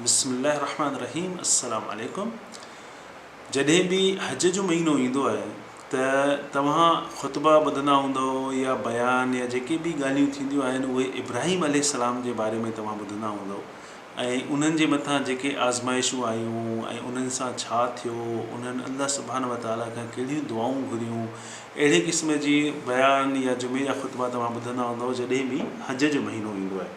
بسم الله الرحمٰن الرحيم السلام عليڪم جڏهن به حج جو مهينو ايندو آهي ته توهان خطبا ٻڌندا هوندؤ يا بيان يا جيڪي به ڳالهيون ٿينديون آهن اهي ابراهيم عليه السلام جي باري ۾ توهان ٻڌندا هوندؤ ۽ انهن جي مٿان جيڪي آزمائشون آيون ۽ انهن سان ڇا ٿيو انهن الله سبحانه وتعالٰي کان ڪهڙيون دعائون گهريون اهڙي قسم جي بيان يا جمعي جا خطبا توهان ٻڌندا هوندؤ جڏهن به حج جو مهينو ايندو آهي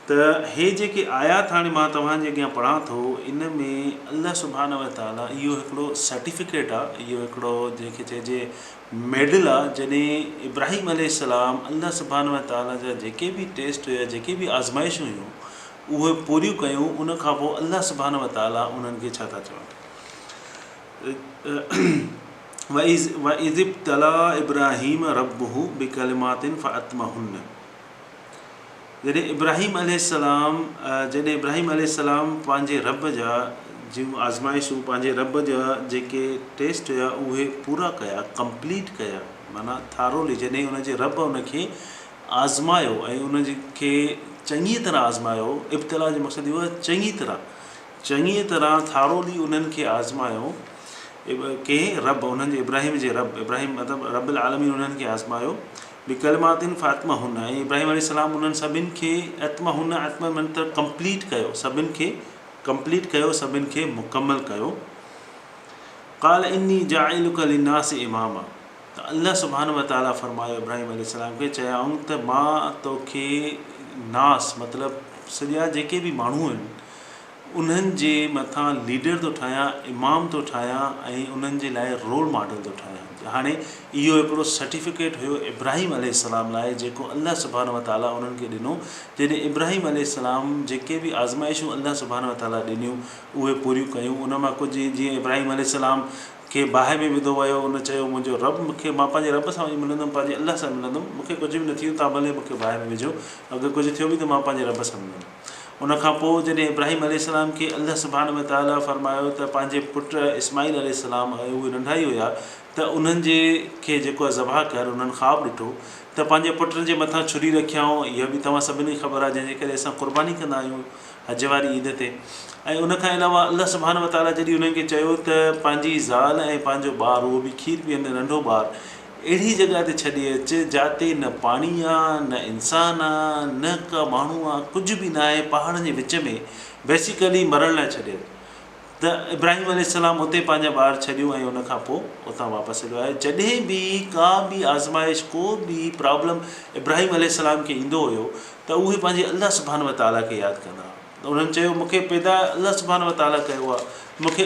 ته هي جيڪي آيات هاڻي مان توهان جي اڳيان پڙهان ٿو ان ۾ الله سبحانه و تعاليٰ اهو هڪڙو سرٽيفڪيٽ آ اهو هڪڙو جنهن کي چئجي ميڊل آ جڏهن ابراهيم عليه السلام الله سبحانه و تعاليٰ جا جيڪي به ٽيسٽ هيا جيڪي به آزمائشون هيون اهي پوريون ڪيون ان کان پوء الله سبحانه و تعاليٰ انهن کي ڇا ٿا چون وَإِذِ ابْتَلَا إِبْرَاهِيمَ رَبُّهُ بِڪَلِمَاتٍ فَأَتْمَمَهُنَّ جڏهن ابراهيم عليه السلام جڏهن ابراهيم عليه السلام پنهنجي رب جا جون آزمائشون پنهنجي رب جا جيڪي ٽيسٽ هيا اهي پورا ڪيا ڪمپليٽ ڪيا معنيٰ ٿارولي جڏهن ان جي رب ان کي آزمايو ۽ ان کي چڱي طرح آزمايو ابتلا جو مقصد اهو آهي چڱي طرح چڱي طرح ٿارولي انهن کي آزمايو ڪنهن رب انهن جي ابراهيم جي رب ابراهيم مطلب رب العالمين انهن کي آزمايو به ڪلمه آتين فاطمه هن ۽ ابراهيم عليه السلام انهن سڀني کي اتم هن اتم منتر ڪمپليٽ ڪيو سڀني کي ڪمپليٽ ڪيو سڀني کي مڪمل ڪيو قال اني جاعلک للناس اماما ته الله سبحانه وتعالي فرمايو ابراهيم عليه السلام کي چيائون ته مان توکي ناس مطلب سڄا جيڪي به ماڻهو آهن انهن جي مٿان ليڊر ٿو ٺاهيان، امام ٿو ٺاهيان ۽ انهن جي لاء رول ماڊل ٿو ٺاهيان. هاڻي اهو هڪڙو سرٽيفڪيٽ هيو ابراهيم عليه السلام لاء جيڪو الله سبحانه وتعاليٰ انهن کي ڏنو. جڏهن ابراهيم عليه السلام جيڪي به آزمائشون الله سبحانه وتعاليٰ ڏنيون اهي پوريون ڪيون ان مان ڪجهه جيئن ابراهيم عليه السلام کي باهه ۾ وڌو ويو ان چيو منهنجو رب مون کي مان پنهنجي رب سان وڃي ملندم پنهنجي الله سان ملندم مون کي ڪجهه به نه ٿيو توهان ڀلي مون کي باهه ۾ وجهو اگر ڪجهه ٿيو به ته مان پنهنجي رب سان ملندم. ان کان پوء جڏهن ابراهيم عليه السلام کي الله سبحانه وتعاليٰ فرمايو ته پنهنجي پٽ اسماعيل عليه السلام ۽ اهي ننڍا ئي هيا ته انهن جي کي جيڪو ذبح ڪر انهن خواب ڏٺو ته پنهنجي پٽن جي مٿان ڇري رکيائون اها به توهان سڀني کي خبر آهي جنهن جي ڪري اسان قرباني ڪندا آهيون حج واري عيد تي ۽ ان کان علاوه الله سبحانه وتعاليٰ جڏهن انهن کي چيو ته پنهنجي زال ۽ پنهنجو ٻار اهو به کير پيئندڙ ننڍو ٻار اهڙي جڳهه تي ڇڏي اچ، جاتي نه پاڻي آ، نه انسان آ، نه ڪا ماڻهو آ، ڪجهه به ناهي، پهاڙن جي وچ ۾، بيسيڪلي مرڻ لاء ڇڏي اچ. ته ابراهيم عليه السلام اتي پنهنجا ٻار ڇڏيو ۽ ان کان پوء اتان واپس هليو آيو. جڏهن به ڪا به آزمائش، ڪو به پرابلم ابراهيم عليه السلام کي ايندو هيو ته اهي پنهنجي الله سبحانه وتعاليٰ کي ياد ڪندا هئا. انهن چيو، مون کي پيدا الله سبحانه وتعاليٰ ڪيو آهي، مون کي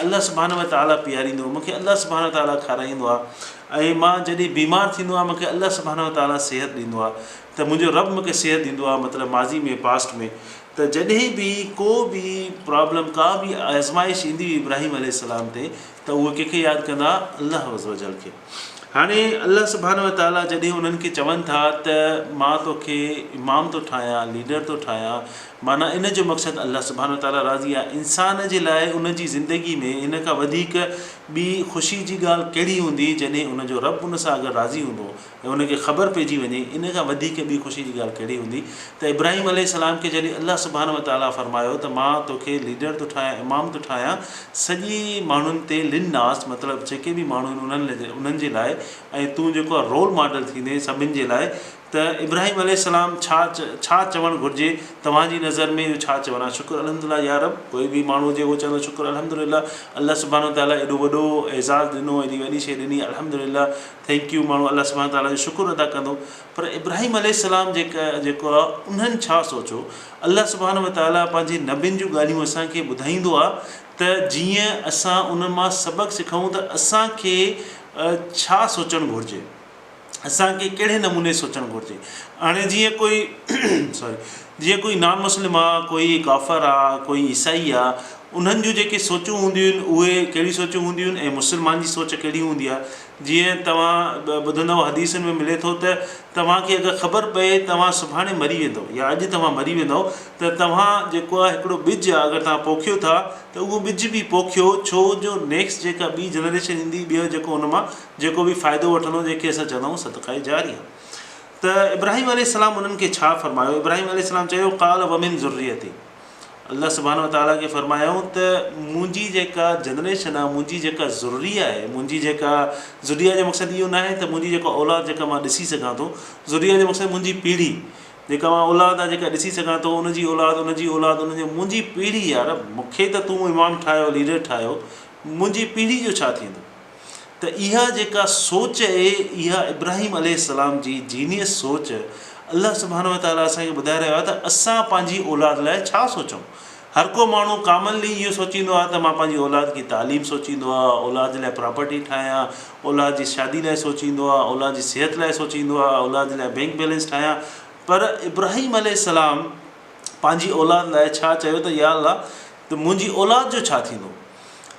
الله سبحانه وتعاليٰ پياريندو، مون کي الله سبحانه وتعاليٰ کارائيندو آهي ۽ مان جڏهن بيمار ٿيندو آهيان مون کي الله سبحانه وتعاليٰ صحت ڏيندو آهي ته منهنجو رب مون کي صحت ڏيندو آهي مطلب ماضي ۾ Past ۾ ته جڏهن به ڪو به Problem ڪا به آزمائش ايندي هئي ابراهيم عليه السلام تي ته اهي ڪنهن کي ياد ڪندا هئا الله عزّ وجلّ کي. هاڻي الله سبحانه وتعاليٰ جڏهن انهن کي چون ٿا ته مان تو کي امام ٿو ٺاهيان، ليڊر ٿو ٺاهيان، معنيٰ ان جو مقصد الله سبحانه وتعاليٰ راضي آهي. انسان جي لاء ان جي زندگي ۾ ان کان وڌيڪ ٻي خوشي جي ڳالهه ڪهڙي هوندي جڏهن ان جو رب ان سان اگر راضي هوندو ۽ ان کي خبر پئجي وڃي ان کان وڌيڪ ٻي خوشي جي ڳالهه ڪهڙي هوندي ته ابراهيم عليه السلام کي جڏهن الله سبحانه وتعاليٰ فرمايو ته مان تو کي ليڊر ٿو ٺاهيان امام ٿو ٺاهيان سڄي ماڻهن تي لن ناس مطلب جيڪي به ماڻهو آهن انهن جي لاء ۽ تون جيڪو رول ماڊل ٿيندين سڀن جي لاء ته ابراهيم عليه السلام ڇا ڇا چوڻ گهرجي توهان جي نظر ۾ اهو ڇا چوڻ آهي شڪر الحمدلله يا رب ڪوئي به ماڻهو هجي اهو چوندو شڪر الحمدلله الله سبحانه وتعالٰي ايڏو وڏو اعزاز ڏنو ايڏي وڏي شيء ڏني الحمدلله ٿينڪ يو ماڻهو الله سبحانه وتعالٰي جو شڪر ادا ڪندو پر ابراهيم عليه السلام جيڪو آهي انهن ڇا سوچيو؟ الله سبحانه وتعاليٰ پنهنجي نبين جون ڳالهيون اسان کي ٻڌائيندو آهي ته جيئن اسان انهن مان سبق سکون ته اسان کي ڇا سوچڻ گهرجي؟ اسان کي ڪهڙي نموني سوچڻ گهرجي؟ هاڻي جيئن ڪوئي Sorry جيئن ڪوئي نان مسلم آهي، ڪوئي ڪافر آهي، ڪوئي عيسائي آهي انهن جون جيڪي سوچون هونديون آهن اهي ڪهڙيون سوچون هونديون آهن ۽ مسلمان جي سوچ ڪهڙي هوندي آهي؟ جيئن توهان ٻڌندؤ حديثن ۾ ملي ٿو ته توهان کي اگر خبر پئي توهان سڀاڻي مري ويندؤ يا اڄ توهان مري ويندؤ ته توهان جيڪو آهي هڪڙو ٻج آهي اگر توهان پوکيو ٿا ته اهو ٻج به پوکيو ڇو جو نيڪسٽ جيڪا ٻي جنريشن ايندي ٻيو جيڪو ان مان جيڪو به فائدو وٺندو جنهن کي اسان چوندا آهيون صدقه جاريه ته ابراهيم عليه السلام انهن کي ڇا فرمايو ابراهيم عليه السلام چيو قال ومن ذريتي. الله سبحانه وتعالٰي کي فرمايائون ته منهنجي جيڪا جنريشن آهي منهنجي جيڪا ذريه آهي منهنجي جيڪا ذريه جو مقصد اهو ناهي ته منهنجي جيڪا اولاد جيڪا مان ڏسي سگهان ٿو ذريه جو مقصد منهنجي پيڙهي جيڪا مان اولاد آهي جيڪا ڏسي سگهان ٿو ان جي اولاد ان جي اولاد ان جي منهنجي پيڙهي يار مون کي ته تون امام ٺاهيو ليڊر ٺاهيو منهنجي پيڙهي جو ڇا ٿيندو ته اها جيڪا سوچ اهي اها ابراهيم عليه السلام جي جينيئس سوچ الله سبحانه وتعالي اسان کي ٻڌائي رهيو آهي ته اسان پنهنجي اولاد لاء ڇا سوچون هر ڪو ماڻهو ڪامنلي اهو سوچيندو آهي ته مان پنهنجي اولاد جي تعليم سوچيندو آهي اولاد جي لاء پراپرٽي ٺاهيان اولاد جي شادي لاء سوچيندو آهي اولاد جي صحت لاء سوچيندو آهي اولاد جي لاء بينڪ بيلنس ٺاهيان پر ابراهيم عليه السلام پنهنجي اولاد لاء ڇا چيو ته يا الله ته منهنجي اولاد جو ڇا ٿيندو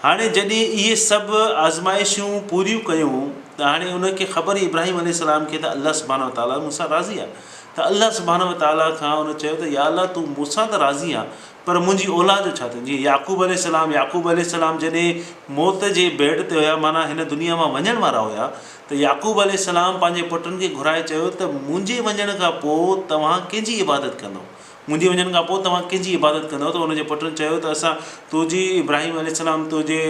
هاڻي جڏهن اهي سڀ آزمائشون پوريون ڪيون ته هاڻي انهن کي خبر هئي ابراهيم عليه السلام کي ته الله سبحانه وتعاليٰ مون سان راضي آهي ته الله سبحانه وتعاليٰ کان ان چيو ته يا الله تون مون سان ته راضي آن پر منهنجي اولاد جو ڇا ٿيندو جيئن يعقوب عليه السلام يعقوب عليه السلام جڏهن موت جي بيڊ تي هيا معنيٰ هن دنيا مان وڃڻ وارا هيا ته يعقوب عليه السلام پنهنجي پٽن کي گهرائي چيو ته منهنجي وڃڻ کان پوء توهان ڪنهن جي عبادت ڪندو منهنجي وڃڻ کان پوء توهان ڪنهن جي عبادت ڪندؤ؟ ته ان جي پٽن چيو ته اسان تنهنجي، ابراهيم عليه السلام، تنهنجي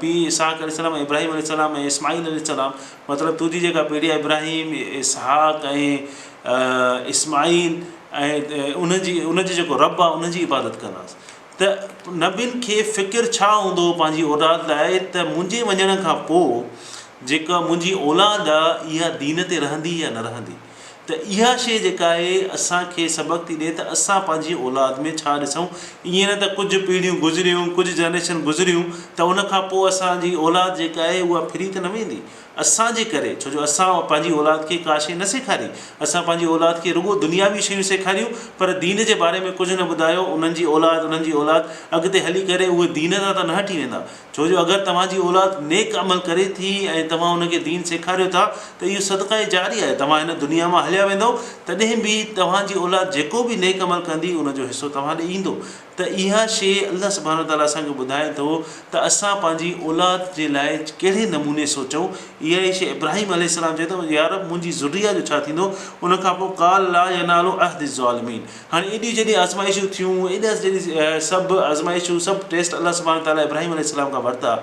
پيء اسحاق عليه السلام ۽ ابراهيم عليه السلام ۽ اسماعيل عليه السلام، مطلب تنهنجي جيڪا پيڙهي آهي ابراهيم، اسحاق ۽ اسماعيل ۽ ان جي، ان جو جيڪو رب آهي ان جي عبادت ڪنداسين. ته نبين کي فڪر ڇا هوندو هو پنهنجي اولاد لاء ته منهنجي وڃڻ کان پوء جيڪا منهنجي اولاد آهي اها دين تي رهندي يا نه رهندي؟ ته اها شيء جيڪا آهي اسان کي سبق ٿي ڏئي ته اسان پنهنجي اولاد ۾ ڇا ڏسون ائين نه ته ڪجهه پيڙهيون گذريون ڪجهه جنريشن گذريون ته ان کان پوء اسان جي اولاد جيڪا آهي اها ڦري ته نه ويندي اسان جي ڪري ڇو جو اسان پنهنجي اولاد کي ڪا شيء نه سيکاري اسان پنهنجي اولاد کي رڳو دنياوي شيون سيکاريون پر دين جي باري ۾ ڪجهه نه ٻڌايو انهن جي اولاد انهن جي اولاد اڳتي هلي ڪري اهي دين تان ته نه هٽي ويندا. ڇو جو اگر توهان جي اولاد نيڪ عمل ڪري ٿي ۽ توهان ان کي دين سيکاريو ٿا ته اهو صدقه جاري آهي توهان هن دنيا مان هليا ويندؤ تڏهن به توهان جي اولاد جيڪو به نيڪ عمل ڪندي ان جو حصو توهان ڏي ايندو ته اها شيء الله سبحانه وتعالٰي اسان کي ٻڌائي ٿو ته اسان پنهنجي اولاد جي لاء ڪهڙي نموني سوچون اها ئي شيء ابراهيم عليه السلام چئي ٿو يارب منهنجي ذريه جو ڇا ٿيندو ان کانپوء قال لا ينال عهد الظالمين هاڻي ايڏيون جيڏيون آزمائشون ٿيون، ايڏا جيڏي سڀ آزمائشون، سڀ ٽيسٽ الله سبحانه وتعاليٰ ابراهيم عليه السلام کان ورتا.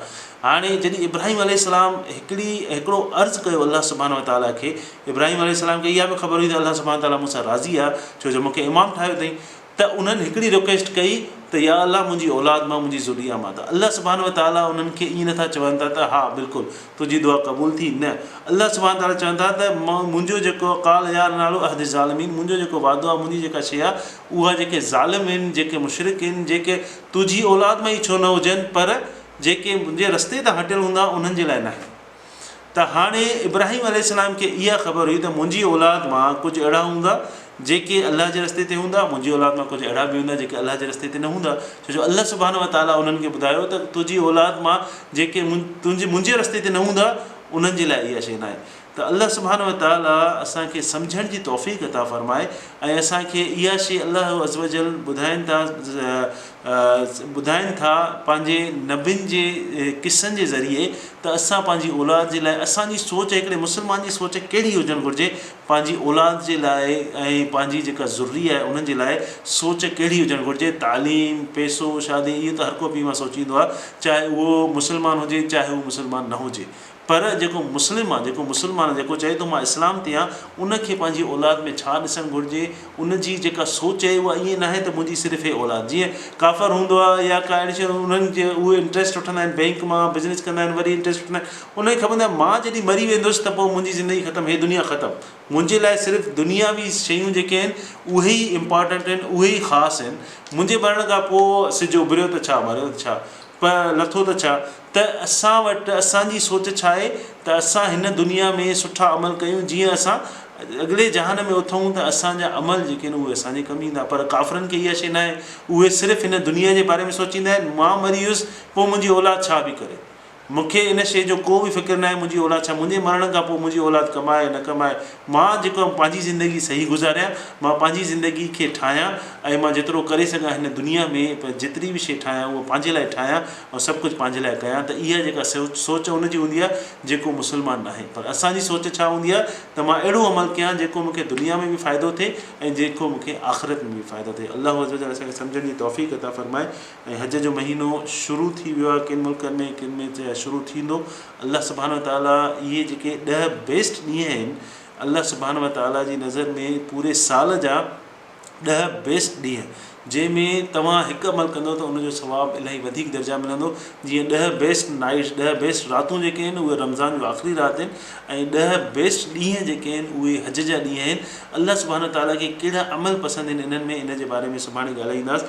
هاڻي جيڏي ابراهيم عليه السلام هڪڙي هڪڙو عرض ڪيو الله سبحانه وتعاليٰ کي، ابراهيم عليه السلام کي اها به خبر هئي ته الله سبحانه وتعاليٰ مون سان راضي آهي ڇو جو مونکي امام ٺاهيو اٿئي ته انهن هڪڙي رڪويسٽ ڪئي ته يا الله منهنجي اولاد مان منهنجي ذريا مان ته الله سبحانه وتعاليٰ انهن کي ائين نٿا چون ٿا ته ها بلڪل تنهنجي دعا قبول ٿي نه. الله سبحانه تعاليٰ چون ٿا ته منهنجو جيڪو قال يا نالو عهد الظالمين منهنجو جيڪو وعدو آهي منهنجي جيڪا شيء آهي اها جيڪي ظالم هن جيڪي مشرڪ هن جيڪي تنهنجي اولاد مان ئي ڇو نه هجن پر جيڪي منهنجي رستي تان هٽيل هوندا انهن جي لاء ناهي ته هاڻي ابراهيم عليه السلام کي اها خبر هئي ته منهنجي اولاد مان ڪجهه اهڙا هوندا جيڪي الله جي رستي تي هوندا، منهنجي اولاد مان ڪجهه اهڙا به هوندا جيڪي الله جي رستي تي نه هوندا، ڇو جو الله سبحانه وتعاليٰ انهن کي ٻڌايو ته تنهنجي اولاد مان جيڪي تنهنجي منهنجي رستي تي نه هوندا انهن جي لاء اها شيء ناهي ته الله سبحانه وتعاليٰ اسان کي سمجهڻ جي توفيق عطا فرمائي ۽ اسان کي اها شيء الله عزّوجلّ ٻڌائين ٿا ٻڌائين ٿا پنهنجي نبين جي قصن جي ذريعي ته اسان پنهنجي اولاد جي لاء اسان جي سوچ هڪڙي مسلمان جي سوچ ڪهڙي هجڻ گهرجي پنهنجي اولاد جي لاء ۽ پنهنجي جيڪا ذريه آهي انهن جي لاء سوچ ڪهڙي هجڻ گهرجي، تعليم، پيسو، شادي اهو ته هر ڪو پيء ماء سوچيندو آهي چاهي اهو مسلمان هجي چاهي هو مسلمان نه هجي پر جيڪو مسلم آهي جيڪو مسلمان جيڪو چئي ٿو مان اسلام تي آهيان ان کي پنهنجي اولاد ۾ ڇا ڏسڻ گهرجي ان جي جيڪا سوچ آهي اها ائين ناهي ته منهنجي صرف هي اولاد جيئن ڪافر هوندو آهي يا ڪا اهڙي شي انهن جي اهي انٽريسٽ وٺندا آهن بئنڪ مان بزنس ڪندا آهن وري انٽريسٽ وٺندا آهن انهن کي خبر ناهي مان جڏهن مري ويندس ته پوء منهنجي زندگي ختم هي دنيا ختم. منهنجي لاء صرف دنياوي شيون جيڪي آهن اهي ئي امپارٽنٽ آهن اهي ئي خاص آهن. منهنجي مرڻ کان پوء سج اڀريو ته ڇا مريو ته ڇا پ لٿو ته ڇا ته اسان وٽ اسان جي سوچ ڇا آهي ته اسان هن دنيا ۾ سٺا عمل ڪيون جيئن اسان اڳلي جهان ۾ اٿئون ته اسان جا عمل جيڪي آهن اهي اسان جي ڪم ايندا پر ڪافرن کي اها شي ناهي اهي صرف هن دنيا جي باري ۾ سوچيندا آهن مان مري ويس پوء منهنجي اولاد ڇا به ڪري. مون کي ان شيء جو ڪو به فڪر ناهي منهنجي اولاد ڇا منهنجي مرڻ کان پوء منهنجي اولاد ڪمائي يا نه ڪمائي مان جيڪو آهيان پنهنجي زندگي صحيح گذاريان مان پنهنجي زندگي کي ٺاهيان ۽ مان جيترو ڪري سگهان هن دنيا ۾ پ جيتري به شيء ٺاهيان اهو پنهنجي لاء ٺاهيان ۽ سڀ ڪجهه پنهنجي لاء ڪيان ته اها جيڪا سوچ سوچ ان جي هوندي آهي جيڪو مسلمان ناهي پر اسان جي سوچ ڇا هوندي آهي ته مان اهڙو عمل ڪيان جيڪو مون کي دنيا ۾ به فائدو ٿئي ۽ جيڪو مون کي آخرت ۾ به فائدو ٿئي الله عزّ وجلّ اسان کي سمجهڻ جي توفيق عطا فرمائي. ۽ حج جو مهينو شروع ٿي ويو آهي ڪن ملڪن ۾ ڪن ۾ چي شروع ٿيندو الله سبحانه وتعالي اهي جيڪي ڏهه بيسٽ ڏينهن آهن الله سبحانه وتعالي جي نظر ۾ پوري سال جا ڏهه بيسٽ ڏينهن جنهن ۾ توهان هڪ عمل ڪندو ته ان جو ثواب الاهي وڌيڪ درجا ملندو جيئن ڏهه بيسٽ نائٽس ڏهه بيسٽ راتون جيڪي آهن اهي رمضان جون آخري رات آهن ۽ ڏهه بيسٽ ڏينهن جيڪي آهن اهي حج جا ڏينهن آهن الله سبحانه وتعالي کي ڪهڙا عمل پسند آهن انهن ۾ ان جي باري ۾ سڀاڻي ڳالهائينداس